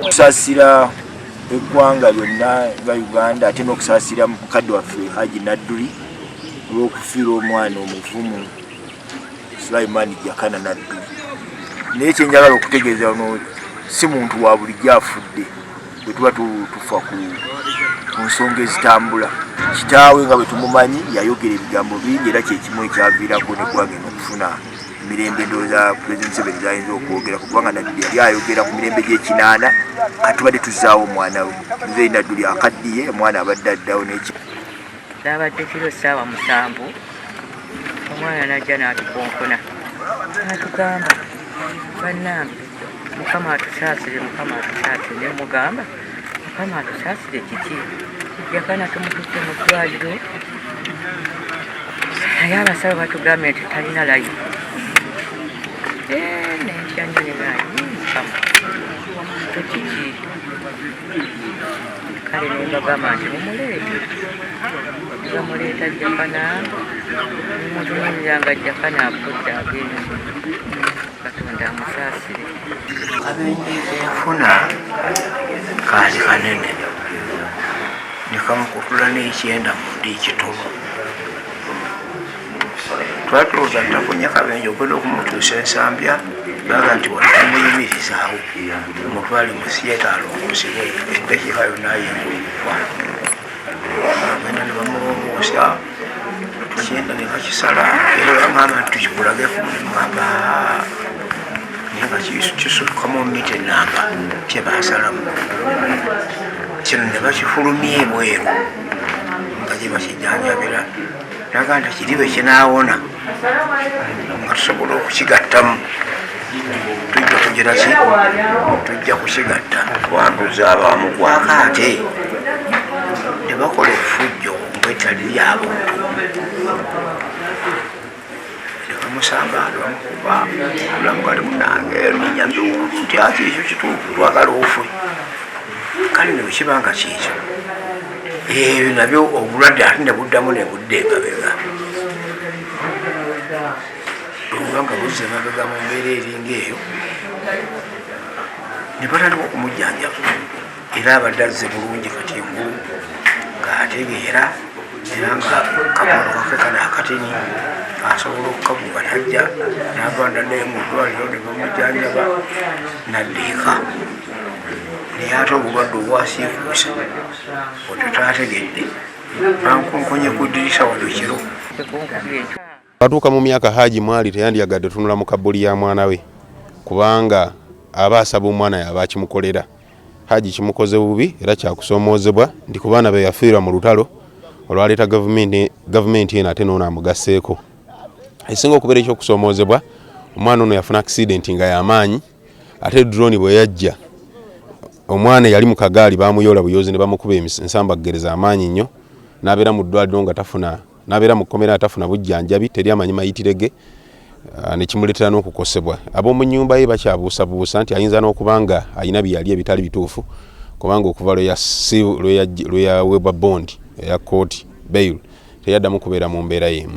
kusasira eggwanga lyonna nga uganda ate n'okusasira mukadde waffe haji nadduli olw'okufiirwa omwana omuvumu Sulaiman Jakana Naddu naye kyenjagala okutegeeza no si muntu wa bulijjo afudde bwe tuba tufa ku nsonga ezitambula kitaawe nga bwe tumumanyi yayogera ebigambo bingi era kyekimu ekyaviirako neggwanga eno okufuna mirembe ndoza president seven zayinza okwogera kubanga naddi yali ayogera ku mirembe gyekinaana katubadde tuzaawo omwana we nze naddu lyakaddiye omwana abadde addawo neki Kyabadde kiro ssaawa musanvu omwana najja n'atukonkona natugamba bannange mukama atusaasire mukama atusaasire ne mugamba mukama atusaasire kiki yakana tumututte mu ddwaliro naye abasawo batugambye nti talina layi eh, nentya nyo ne naye mukama kiki kale nembagamba nti mumuleete bamuleeta jakana nemutunulira nga jakana akudde agenzi katonda amusaasire kabenje kenfuna kaali kanene nekamukutula nekyenda mundi ekitono twatuuza tafunye kabenje okwenda okumutuusa ensambya baga nti waamuyimirizaawo omutwale musiyeta alongosebwe edakiika yona ayingaokwa agenda ne bamulongoosa kyenda ne bakisala era bamwamba nti tukikulageko nemwamba naye nga kisukkamu mita enamba kyebasalamu kino ne bakifulumya ebweru nga gye bakijanjabira naga nti kiri bwe kinaawona nga tusobola okukigattamu tujja kugira ki tujja kukigatta twanduza abamugwako ate tebakola efujjo kwetali lyabuntu musanga ndi bamukuba mulamu kati munange ninyambye nti ati ekyo kituufu twagala ofwe kale ne bwekiba nga kyekyo ebyo nabyo obulwadde ate ne buddamu ne budda emabega oba nga buzza emabega mu mbeera eringa eyo ne batandika okumujjanjaba era abadde azze bulungi kati engulu ng'ategeera era nga kakono kake kana akatini asobola okukaguba najja nava naddayo mu ddwaliro ne bamujjanjaba naddiika naye ate obulwadde obwasiikuusa otataategedde bankunkonye ku ddirisa wano kiro Batuuka mu myaka Haji mwali teyandyagadde tunula mu kabbuli ya mwana we kubanga aba asaba omwana yaba akimukolera. Haji kimukoze bubi era kyakusoomoozebwa nti ku baana be yafiirwa mu lutalo olwaleeta gavumenti eno ate noono amugasseeko. Esinga okubeera eky'okusoomoozebwa omwana ono yafuna akisidenti nga yamaanyi ate drone bwe yajja omwana yali mu kagaali bamuyoola buyoozi ne bamukuba ensambaggereza amaanyi nnyo n'abeera mu ddwaliro nga tafuna n'abeera mu kkomera atafuna bujjanjabi teri amanyi mayitire ge ah, nekimuleetera n'okukosebwa ab'omu nnyumba ye bakyabuusabuusa nti ayinza n'okuba nga alina byeyali ebitali bituufu kubanga okuva lwe yaweebwa bondi eya kooti bail teyaddamu kubeera mu mbeera y'emu